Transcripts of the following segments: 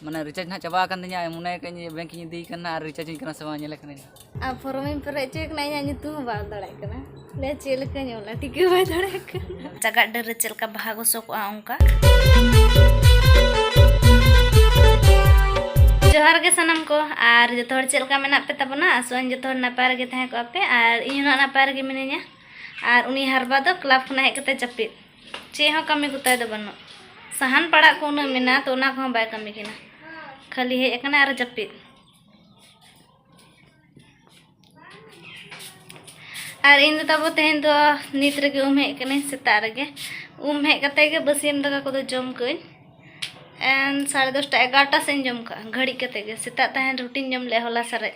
ᱢᱟᱱᱮ ᱨᱤᱪᱟᱨᱡᱽ ᱱᱟᱦᱟᱜ ᱪᱟᱵᱟ ᱟᱠᱟᱱ ᱛᱤᱧᱟ ᱢᱚᱱᱮ ᱠᱟᱜ ᱤᱧ ᱵᱮᱝᱠ ᱤᱧ ᱤᱫᱤᱭ ᱠᱟᱱᱟ ᱟᱨ ᱨᱤᱪᱟᱨᱡᱽ ᱤᱧ ᱠᱟᱱᱟ ᱥᱮ ᱵᱟᱝ ᱧᱮᱞᱮ ᱠᱟᱹᱱᱟᱹᱧ ᱟᱨ ᱯᱷᱚᱨᱚᱢ ᱤᱧ ᱯᱮᱨᱮᱡ ᱦᱚᱪᱚᱭ ᱠᱟᱱᱟ ᱤᱧᱟᱹᱜ ᱧᱩᱛᱩᱢ ᱦᱚᱸ ᱵᱟᱝ ᱫᱟᱲᱮᱭᱟᱜ ᱠᱟᱱᱟ ᱞᱮ ᱪᱮᱫ ᱞᱮᱠᱟᱧ ᱚᱞᱟ ᱴᱷᱤᱠᱟᱹ ᱵᱟᱭ ᱫᱟᱲᱮᱭᱟᱜ ᱠᱟᱱᱟ ᱪᱟᱜᱟᱜ ᱰᱟᱹᱨ ᱨᱮ ᱪᱮᱫ ᱞᱮᱠᱟ ᱵᱟᱦᱟ ᱜᱚᱥᱚ ᱠᱚᱜᱼᱟ ᱚᱱᱠᱟ ᱡᱚᱦᱟᱨ ᱜᱮ ᱥᱟᱱᱟᱢ ᱠᱚ ᱟᱨ ᱡᱚᱛᱚ ᱦᱚᱲ ᱪᱮᱫ ᱞᱮᱠᱟ ᱢᱮᱱᱟᱜ ᱯᱮ ᱛᱟᱵᱚᱱᱟ ᱟᱥᱚᱜᱼᱟᱹᱧ ᱡᱚᱛᱚ ᱦᱚᱲ ᱱᱟᱯᱟᱭ ᱨᱮᱜᱮ ᱛᱟᱦᱮᱸ ᱠᱚᱜᱼᱟ ᱯᱮ ᱟᱨ ᱤᱧ ᱦᱚᱸ ᱱᱟᱯᱟᱭ ᱨᱮᱜᱮ ᱢᱤᱱᱟᱹᱧᱟ ᱟᱨ ᱩᱱᱤ ᱦᱟᱨᱵᱟ ᱫᱚ ᱠᱞᱟᱵᱽ ᱠᱷᱚᱱᱟᱜ ᱦᱮᱡ ᱠᱟᱛᱮ ᱡᱟᱹᱯᱤᱫ ᱪᱮᱫ ᱦᱚᱸ ᱠᱟᱹᱢᱤ ᱠᱚᱛᱟᱭ ᱫᱚ ᱵᱟᱹᱱᱩᱜ ᱥᱟᱦᱟᱱ ᱯᱟᱲᱟᱜ ᱠᱚ ᱩᱱᱟᱹᱜ ᱢᱮᱱᱟᱜᱼᱟ ᱛᱚ ᱚᱱᱟ ᱠᱚᱦᱚᱸ ᱵᱟᱭ ᱠᱟᱹᱢᱤ ᱠᱟᱱᱟ ᱠᱷᱟᱹᱞᱤ ᱦᱮᱡ ᱟᱠᱟᱱᱟ ᱟᱨ ᱡᱟᱹᱯᱤᱫ ᱟᱨ ᱤᱧ ᱫᱚ ᱛᱟᱵᱚ ᱛᱮᱦᱮᱧ ᱫᱚ ᱱᱤᱛ ᱨᱮᱜᱮ ᱩᱢ ᱦᱮᱡ ᱠᱟᱹᱱᱟᱹᱧ ᱥᱮᱛᱟᱜ ᱨᱮᱜᱮ ᱩᱢ ᱦᱮᱡ ᱠᱟᱛᱮ ᱜᱮ ᱵᱟᱹᱥᱭᱟᱹᱢ ᱫᱟᱠᱟ ᱠᱚᱫᱚ ᱡᱚᱢ ᱠᱟᱹᱧ ᱮᱱ ᱥᱟᱲᱮ ᱫᱚᱥᱴᱟ ᱮᱜᱟᱨᱚᱴᱟ ᱥᱮᱫ ᱤᱧ ᱡᱚᱢ ᱠᱟᱜᱼᱟ ᱜᱷᱟᱹᱲᱤᱡ ᱠᱟᱛᱮ ᱜᱮ ᱥᱮᱛᱟᱜ ᱛᱟᱦᱮᱱ ᱨᱩᱴᱤᱧ ᱡᱚᱢ ᱞᱮᱜᱼᱟ ᱦᱚᱞᱟ ᱥᱟᱨᱮᱡ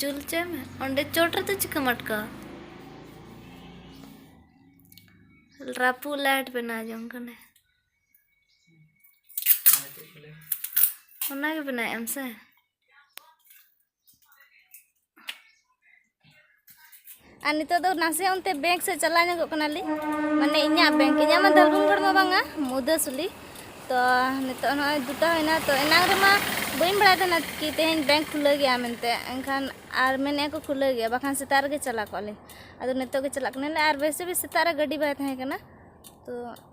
ᱡᱩᱞ ᱦᱚᱪᱚᱭ ᱢᱮ ᱚᱸᱰᱮ ᱪᱚᱴ ᱨᱮᱫᱚ ᱪᱤᱠᱟᱹᱢ ᱟᱴᱠᱟᱣᱟ ᱨᱟᱹᱯᱩᱫ ᱞᱟᱭᱤᱴ ᱵᱮᱱᱟᱣ ᱡᱚᱝ ᱠᱟᱱᱟ ᱚᱱᱟᱜᱮ ᱵᱮᱱᱟᱣᱮᱫ ᱟᱢ ᱥᱮ ᱟᱨ ᱱᱤᱛᱚᱜ ᱫᱚ ᱱᱟᱥᱮ ᱚᱱᱛᱮ ᱵᱮᱝᱠ ᱥᱮᱫ ᱪᱟᱞᱟᱣ ᱧᱚᱜᱚᱜ ᱠᱟᱱᱟᱞᱤᱧ ᱢᱟᱱᱮ ᱤᱧᱟᱹᱜ ᱵᱮᱝᱠ ᱤᱧᱟᱹᱜ ᱢᱟ ᱫᱷᱟᱞᱵᱷᱩᱢᱜᱚᱲ ᱢᱟ ᱵᱟᱝᱟ ᱢᱩᱫᱟᱹᱥᱩᱞᱤ ᱛᱚ ᱱᱤᱛᱚᱜ ᱱᱚᱜᱼᱚᱭ ᱫᱩᱴᱟ ᱦᱩᱭᱱᱟ ᱛᱚ ᱮᱱᱟᱝ ᱨᱮᱢᱟ ᱵᱟᱹᱧ ᱵᱟᱲᱟᱭ ᱛᱟᱦᱮᱱᱟ ᱠᱤ ᱛᱮᱦᱮᱧ ᱵᱮᱝᱠ ᱠᱷᱩᱞᱟᱹᱣ ᱜᱮᱭᱟ ᱢᱮᱱᱛᱮ ᱮᱱᱠᱷᱟᱱ ᱟᱨ ᱢᱮᱱᱮᱫᱼᱟ ᱠᱚ ᱠᱷᱩᱞᱟᱹᱣ ᱜᱮᱭᱟ ᱵᱟᱠᱷᱟᱱ ᱥᱮᱛᱟᱜ ᱨᱮᱜᱮ ᱪᱟᱞᱟᱣ ᱠᱚᱜᱼᱟ ᱞᱮ ᱟᱫᱚ ᱱᱤᱛᱚᱜ ᱜᱮ ᱪᱟᱞᱟᱜ ᱠᱟᱱᱟᱞᱮ ᱟᱨ ᱵᱮᱥᱤ ᱵᱮᱥ ᱥᱮᱛᱟᱜ ᱨᱮ ᱜᱟᱹᱰᱤ ᱵᱟᱭ ᱛᱟᱦᱮᱸ ᱠᱟᱱᱟ ᱛᱚ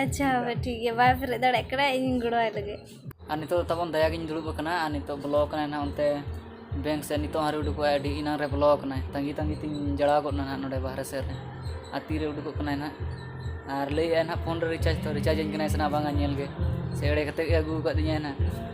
ᱟᱪᱪᱷᱟ ᱦᱳᱭ ᱴᱷᱤᱠ ᱜᱮᱭᱟ ᱵᱟᱭ ᱯᱮᱨᱮᱡ ᱫᱟᱲᱮᱭᱟᱜ ᱠᱟᱱᱟ ᱤᱧᱤᱧ ᱜᱚᱲᱚᱣᱟᱭ ᱞᱮᱜᱮ ᱟᱨ ᱱᱤᱛᱚᱜ ᱫᱚ ᱛᱟᱵᱚᱱ ᱫᱟᱭᱟᱜᱤᱧ ᱫᱩᱲᱩᱵ ᱟᱠᱟᱱᱟ ᱟᱨ ᱱᱤᱛᱚᱜ ᱵᱚᱞᱚ ᱟᱠᱟᱱᱟᱭ ᱱᱟᱦᱟᱜ ᱚᱱᱛᱮ ᱵᱮᱝᱠ ᱥᱮᱫ ᱱᱤᱛᱚᱜ ᱦᱚᱸ ᱟᱹᱣᱨᱤ ᱩᱰᱩᱠᱚᱜᱼᱟᱭ ᱟᱹᱰᱤ ᱮᱱᱟᱝ ᱨᱮ ᱵᱚᱞᱚ ᱟᱠᱟᱱᱟᱭ ᱛᱟᱺᱜᱤ ᱛᱟᱺᱜᱤ ᱛᱤᱧ ᱡᱟᱲᱟᱣ ᱜᱚᱫ ᱮᱱᱟ ᱱᱟᱦᱟᱜ ᱱᱚᱰᱮ ᱵᱟᱦᱨᱮ ᱥᱮᱫ ᱨᱮ ᱟᱨ ᱛᱤᱨᱮ ᱩᱰᱩᱠᱚᱜ ᱠᱟᱱᱟᱭ ᱱᱟᱦᱟᱜ ᱟᱨ ᱞᱟᱹᱭᱮᱫᱼᱟᱭ ᱱᱟᱦᱟᱜ ᱯᱷᱳᱱ ᱨᱮ ᱨᱤᱪᱟᱨᱡᱽ ᱛᱚ ᱨᱤᱪᱟᱨᱡᱽ ᱟᱹᱧ ᱠᱟᱱᱟᱭ ᱥᱮ ᱵᱟᱝᱟ ᱧᱮᱞ ᱜᱮ ᱥᱮ ᱮᱲᱮ ᱠᱟᱛᱮᱫ ᱜᱮ ᱟᱹᱜᱩ ᱟᱠᱟᱫᱤᱧᱟᱭ ᱱᱟᱦᱟᱜ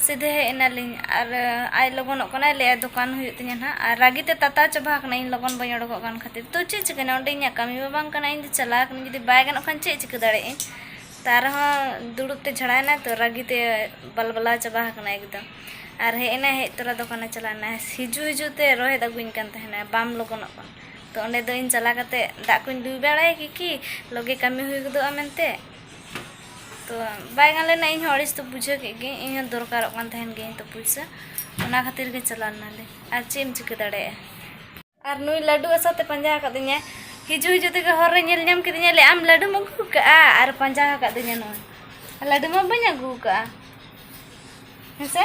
ᱥᱤᱫᱷᱟᱹ ᱦᱮᱡ ᱮᱱᱟᱞᱤᱧ ᱟᱨ ᱟᱡ ᱞᱚᱜᱚᱱᱚᱜ ᱠᱟᱱᱟᱭ ᱞᱟᱹᱭᱮᱫᱟᱭ ᱫᱚᱠᱟᱱ ᱦᱩᱭᱩᱜ ᱛᱤᱧᱟᱹ ᱱᱟᱦᱟᱜ ᱟᱨ ᱨᱟᱹᱜᱤᱛᱮ ᱛᱟᱛᱟᱣ ᱪᱟᱵᱟ ᱟᱠᱟᱱᱟᱭ ᱤᱧ ᱞᱚᱜᱚᱱ ᱵᱟᱹᱧ ᱚᱰᱚᱠᱚᱜ ᱠᱟᱱ ᱠᱷᱟᱹᱛᱤᱨ ᱛᱚ ᱪᱮᱫ ᱪᱤᱠᱟᱹᱭᱮᱱᱟ ᱚᱸᱰᱮ ᱤᱧᱟᱹᱜ ᱠᱟᱹᱢᱤ ᱢᱟ ᱵᱟᱝ ᱠᱟᱱᱟ ᱤᱧᱫᱚ ᱪᱟᱞᱟᱣ ᱟᱠᱟᱱᱟᱹᱧ ᱡᱩᱫᱤ ᱵᱟᱭ ᱜᱟᱱᱚᱜ ᱠᱷᱟᱱ ᱪᱮᱫ ᱪᱤᱠᱟᱹ ᱫᱟᱲᱮᱭᱟᱜ ᱟᱹᱧ ᱛᱟᱣ ᱨᱮᱦᱚᱸ ᱫᱩᱲᱩᱵ ᱛᱮ ᱡᱷᱟᱲᱟᱣ ᱮᱱᱟᱭ ᱛᱚ ᱨᱟᱹᱜᱤᱛᱮ ᱵᱟᱞᱵᱟᱞᱟᱣ ᱪᱟᱵᱟ ᱟᱠᱟᱱᱟᱭ ᱮᱠᱫᱚᱢ ᱟᱨ ᱦᱮᱡ ᱮᱱᱟᱭ ᱦᱮᱡ ᱛᱚᱨᱟ ᱫᱚᱠᱟᱱᱮ ᱪᱟᱞᱟᱣ ᱮᱱᱟ ᱦᱤᱡᱩᱜ ᱦᱤᱡᱩᱜ ᱛᱮ ᱨᱚᱦᱮᱫ ᱟᱹᱜᱩᱣᱟᱹᱧ ᱠᱟᱱ ᱛᱟᱦᱮᱱᱟᱭ ᱵᱟᱢ ᱞᱚᱜᱚᱱᱚᱜ ᱠᱟᱱᱟ ᱛᱚ ᱚᱸᱰᱮ ᱫᱚ ᱤᱧ ᱪᱟᱞᱟᱣ ᱠᱟᱛᱮᱫ ᱫᱟᱜ ᱠᱚᱧ ᱫᱩᱞ ᱵᱟᱲᱟᱭᱟ ᱠᱤ ᱞᱚᱜᱮ ᱠᱟᱹᱢᱤ ᱦᱩᱭ ᱜᱚᱫᱚᱜᱼᱟ ᱢᱮᱱᱛᱮ ᱛᱚ ᱵᱟᱭ ᱜᱟᱱ ᱞᱮᱱᱟ ᱤᱧ ᱦᱚᱸ ᱟᱹᱲᱤᱥ ᱫᱚ ᱵᱩᱡᱷᱟᱹᱣ ᱠᱮᱫ ᱜᱮ ᱤᱧ ᱦᱚᱸ ᱫᱚᱨᱠᱟᱨᱚᱜ ᱠᱟᱱ ᱛᱟᱦᱮᱱ ᱜᱮ ᱛᱚ ᱯᱩᱭᱥᱟᱹ ᱚᱱᱟ ᱠᱷᱟᱹᱛᱤᱨ ᱜᱮ ᱪᱟᱞᱟᱣ ᱞᱮᱱᱟᱞᱮ ᱟᱨ ᱪᱮᱫ ᱮᱢ ᱪᱤᱠᱟᱹ ᱫᱟᱲᱮᱭᱟᱜᱼᱟ ᱟᱨ ᱱᱩᱭ ᱞᱟᱹᱰᱩ ᱟᱥᱟᱛᱮ ᱯᱟᱸᱡᱟ ᱟᱠᱟᱫᱤᱧᱟ ᱦᱤᱡᱩᱜ ᱦᱤᱡᱩᱜ ᱛᱮᱜᱮ ᱦᱚᱨ ᱨᱮ ᱧᱮᱞ ᱧᱟᱢ ᱠᱮᱫᱤᱧᱟ ᱞᱟᱹᱭ ᱟᱢ ᱞᱟᱹᱰᱩᱢ ᱟᱹᱜᱩ ᱠᱟᱜᱼᱟ ᱟᱨ ᱯᱟᱸᱡᱟ ᱟᱠᱟᱫᱤᱧᱟ ᱱᱚᱣᱟ ᱞᱟᱹᱰᱩ ᱢᱟ ᱵᱟᱹᱧ ᱟᱹᱜᱩ ᱠᱟᱜᱼᱟ ᱦᱮᱸᱥᱮ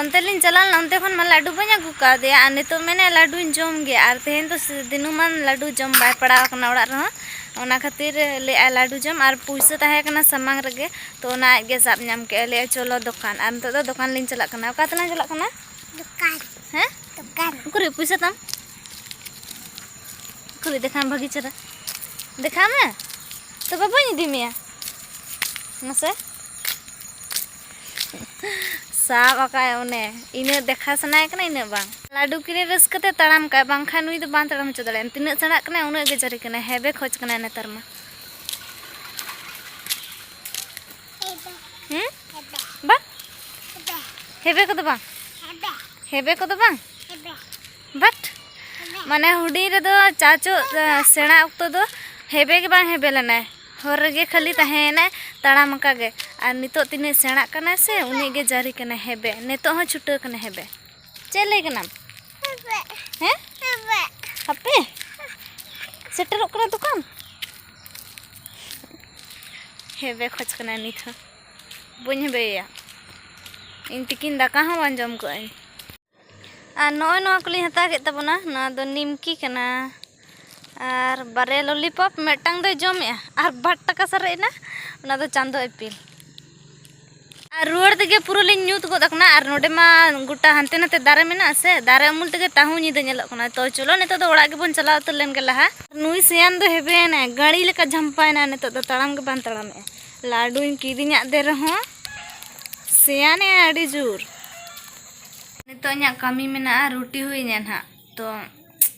ᱚᱱᱛᱮ ᱞᱤᱧ ᱪᱟᱞᱟᱣ ᱞᱮᱱᱟ ᱚᱱᱛᱮ ᱠᱷᱚᱱ ᱢᱟ ᱞᱟᱹᱰᱩ ᱵᱟᱹᱧ ᱟᱹᱜᱩ ᱠᱟᱣᱫᱮᱭᱟ ᱟᱨ ᱱᱤᱛᱚᱜ ᱢᱮᱱᱮ ᱞᱟᱹᱰᱩᱧ ᱡᱚᱢ ᱜᱮ ᱟᱨ ᱛᱮᱦᱮᱧ ᱫᱚ ᱫᱤᱱᱩᱢᱟᱱ ᱞᱟᱹᱰᱩ ᱡᱚᱢ ᱵᱟᱭ ᱯᱟᱲᱟᱣ ᱠᱟᱱᱟ ᱚᱲᱟᱜ ᱨᱮᱦᱚᱸ ᱚᱱᱟ ᱠᱷᱟᱹᱛᱤᱨ ᱞᱟᱹᱭᱮᱫᱼᱟᱭ ᱞᱟᱹᱰᱩ ᱡᱚᱢ ᱟᱨ ᱯᱩᱭᱥᱟᱹ ᱛᱟᱦᱮᱸ ᱠᱟᱱᱟ ᱥᱟᱢᱟᱝ ᱨᱮᱜᱮ ᱛᱚ ᱚᱱᱟ ᱟᱡ ᱜᱮ ᱥᱟᱵ ᱧᱟᱢ ᱠᱮᱫᱼᱟᱭ ᱞᱟᱹᱭᱮᱫᱼᱟᱭ ᱪᱚᱞᱚ ᱫᱚᱠᱟᱱ ᱟᱨ ᱱᱤᱛᱚᱜ ᱫᱚ ᱫᱚᱠᱟᱱ ᱞᱤᱧ ᱪᱟᱞᱟᱜ ᱠᱟᱱᱟ ᱚᱠᱟ ᱛᱮᱞᱟᱝ ᱪᱟᱞᱟᱜ ᱠᱟᱱᱟ ᱫᱚᱠᱟᱱ ᱦᱮᱸ ᱫᱚᱠᱟᱱ ᱩᱠᱩᱨ ᱯᱩᱭᱥᱟᱹ ᱛᱟᱢ ᱩᱠᱩᱨ ᱫᱮᱠᱷᱟᱢ ᱵᱷᱟᱹᱜᱤ ᱪᱮᱦᱨᱟ ᱫᱮᱠᱷᱟ ᱢᱮ ᱛᱚᱵᱮ ᱵᱟᱹᱧ ᱤᱫᱤ ᱢᱮᱭᱟ ᱢᱟᱥᱮ ᱥᱟᱵ ᱟᱠᱟᱭ ᱚᱱᱮ ᱤᱱᱟᱹ ᱫᱮᱠᱷᱟ ᱥᱟᱱᱟᱭ ᱠᱟᱱᱟ ᱤᱱᱟᱹ ᱵᱟᱝ ᱞᱟᱹᱰᱩ ᱠᱤᱨᱤ ᱨᱟᱹᱥᱠᱟᱹ ᱛᱮ ᱛᱟᱲᱟᱢ ᱠᱟᱭ ᱵᱟᱝᱠᱷᱟᱱ ᱱᱩᱭ ᱫᱚ ᱵᱟᱝ ᱛᱟᱲᱟᱢ ᱦᱚᱪᱚ ᱫᱟᱲᱮᱭᱟᱜᱼᱟ ᱛᱤᱱᱟᱹᱜ ᱥᱮᱬᱟᱜ ᱠᱟᱱᱟ ᱩᱱᱟᱹᱜ ᱜᱮ ᱡᱟᱹᱨᱤ ᱠᱟᱱᱟ ᱦᱮᱵᱮ ᱠᱷᱚᱡ ᱠᱟᱱᱟ ᱱᱮᱛᱟᱨ ᱢᱟ ᱦᱮᱸ ᱵᱟᱝ ᱦᱮᱵᱮ ᱠᱚᱫᱚ ᱵᱟᱝ ᱦᱮᱵᱮ ᱠᱚᱫᱚ ᱵᱟᱝ ᱵᱟᱴ ᱢᱟᱱᱮ ᱦᱩᱰᱤᱧ ᱨᱮᱫᱚ ᱪᱟᱪᱚ ᱥᱮᱬᱟ ᱚᱠᱛᱚ ᱫᱚ ᱦᱮᱵᱮ ᱜᱮ ᱵᱟᱝ ᱦᱮᱵᱮ ᱞᱮᱱᱟᱭ ᱦᱚᱨ ᱨᱮᱜᱮ ᱠᱷᱟᱹᱞᱤ ᱛᱟᱦᱮᱸᱭᱮᱱᱟᱭ ᱛᱟᱲᱟᱢ ᱟᱠᱟᱫ ᱜᱮ ᱟᱨ ᱱᱤᱛᱚᱜ ᱛᱤᱱᱟᱹᱜ ᱥᱮᱬᱟᱜ ᱠᱟᱱᱟᱭ ᱥᱮ ᱩᱱᱟᱹᱜ ᱜᱮ ᱡᱟᱹᱨᱤ ᱠᱟᱱᱟᱭ ᱦᱮᱵᱮ ᱱᱤᱛᱚᱜ ᱦᱚᱸ ᱪᱷᱩᱴᱟᱹᱣ ᱠᱟᱱᱟᱭ ᱦᱮᱵᱮ ᱪᱮᱫ ᱞᱟᱹᱭ ᱠᱟᱱᱟᱢ ᱦᱮᱸ ᱦᱟᱯᱮ ᱥᱮᱴᱮᱨᱚᱜ ᱠᱟᱱᱟ ᱫᱚᱠᱟᱱ ᱦᱮᱵᱮ ᱠᱷᱚᱡ ᱠᱟᱱᱟᱭ ᱱᱤᱛ ᱦᱚᱸ ᱵᱟᱹᱧ ᱦᱮᱵᱮᱭᱮᱭᱟ ᱤᱧ ᱛᱤᱠᱤᱱ ᱫᱟᱠᱟ ᱦᱚᱸ ᱵᱟᱝ ᱡᱚᱢ ᱠᱟᱜ ᱟᱹᱧ ᱟᱨ ᱱᱚᱜᱼᱚᱭ ᱱᱚᱣᱟ ᱠᱚᱞᱤᱧ ᱦᱟᱛᱟᱣ ᱠᱮᱫ ᱛᱟᱵᱚᱱᱟ ᱱᱚᱣᱟ ᱫᱚ ᱱᱤᱢᱠᱤ ᱠᱟᱱᱟ ᱟᱨ ᱵᱟᱨᱭᱟ ᱞᱚᱞᱤᱯᱚᱯ ᱢᱤᱫᱴᱟᱝ ᱫᱚᱭ ᱡᱚᱢᱮᱜᱼᱟ ᱟᱨ ᱵᱟᱨ ᱴᱟᱠᱟ ᱥᱟᱨᱮᱡ ᱮᱱᱟ ᱚᱱᱟ ᱫᱚ ᱪᱟᱸᱫᱚ ᱤᱯᱤᱞ ᱟᱨ ᱨᱩᱣᱟᱹᱲ ᱛᱮᱜᱮ ᱯᱩᱨᱟᱹ ᱞᱤᱧ ᱧᱩᱛ ᱜᱚᱫ ᱟᱠᱟᱱᱟ ᱟᱨ ᱱᱚᱰᱮ ᱢᱟ ᱜᱚᱴᱟ ᱦᱟᱱᱛᱮ ᱱᱟᱛᱮ ᱫᱟᱨᱮ ᱢᱮᱱᱟᱜᱼᱟ ᱥᱮ ᱫᱟᱨᱮ ᱩᱢᱩᱞ ᱛᱮᱜᱮ ᱛᱟᱦᱩ ᱧᱤᱫᱟᱹ ᱧᱮᱞᱚᱜ ᱠᱟᱱᱟ ᱛᱚ ᱪᱚᱞᱚ ᱱᱤᱛᱚᱜ ᱫᱚ ᱚᱲᱟᱜ ᱜᱮᱵᱚᱱ ᱪᱟᱞᱟᱣ ᱩᱛᱟᱹᱨ ᱞᱮᱱ ᱜᱮ ᱞᱟᱦᱟ ᱱᱩᱭ ᱥᱮᱭᱟᱱ ᱫᱚ ᱦᱮᱵᱮᱱᱟ ᱜᱟᱹᱲᱤ ᱞᱮᱠᱟ ᱡᱷᱟᱢᱯᱟᱭᱮᱱᱟ ᱱᱤᱛᱚᱜ ᱫᱚ ᱛᱟᱲᱟᱢ ᱜᱮ ᱵᱟᱝ ᱛᱟᱲᱟᱢᱮᱜᱼᱟ ᱞᱟᱹᱰᱩᱧ ᱠᱤᱨᱤᱧᱟᱫ ᱫᱮ ᱨᱮᱦᱚᱸ ᱥᱮᱭᱟᱱᱮ ᱟᱹᱰᱤ ᱡᱳᱨ ᱱᱤᱛᱚᱜ ᱤᱧᱟᱹᱜ ᱠᱟᱹᱢᱤ ᱢᱮᱱᱟᱜᱼᱟ ᱨᱩᱴᱤ ᱦᱩᱭᱤᱧᱟ ᱱᱟᱦᱟᱜ ᱛᱚ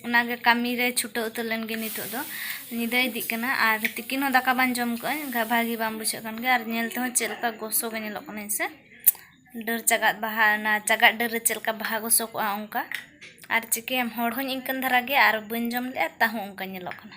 ᱚᱱᱟᱜᱮ ᱠᱟᱹᱢᱤ ᱨᱮ ᱪᱷᱩᱴᱟᱹᱣ ᱩᱛᱟᱹᱨ ᱞᱮᱱ ᱜᱮ ᱱᱤᱛᱚᱜ ᱫᱚ ᱧᱤᱫᱟᱹ ᱤᱫᱤᱜ ᱠᱟᱱᱟ ᱟᱨ ᱛᱤᱠᱤᱱ ᱦᱚᱸ ᱫᱟᱠᱟ ᱵᱟᱝ ᱡᱚᱢ ᱠᱟᱜ ᱟᱹᱧ ᱵᱷᱟᱹᱜᱤ ᱵᱟᱝ ᱵᱩᱡᱷᱟᱹᱜ ᱠᱟᱱ ᱜᱮᱭᱟ ᱟᱨ ᱧᱮᱞ ᱛᱮᱦᱚᱸ ᱪᱮᱫ ᱞᱮᱠᱟ ᱜᱚᱥᱚ ᱜᱮ ᱧᱮᱞᱚᱜ ᱠᱟᱱᱟ ᱦᱮᱸ ᱥᱮ ᱰᱟᱹᱨ ᱪᱟᱜᱟᱫ ᱵᱟᱦᱟ ᱚᱱᱟ ᱪᱟᱜᱟᱫ ᱰᱟᱹᱨ ᱨᱮ ᱪᱮᱫ ᱞᱮᱠᱟ ᱵᱟᱦᱟ ᱜᱚᱥᱚ ᱠᱚᱜᱼᱟ ᱚᱱᱠᱟ ᱟᱨ ᱪᱤᱠᱟᱹᱭᱟᱢ ᱦᱚᱲ ᱦᱚᱸᱧ ᱤᱱᱠᱟᱹᱱ ᱫᱷᱟᱨᱟ ᱜᱮᱭᱟ ᱟᱨ ᱵᱟᱹᱧ ᱡᱚᱢ ᱞᱮᱜᱼᱟ ᱛᱟᱣ ᱦᱚᱸ ᱚᱱᱠᱟ ᱧᱮᱞᱚᱜ ᱠᱟᱱᱟ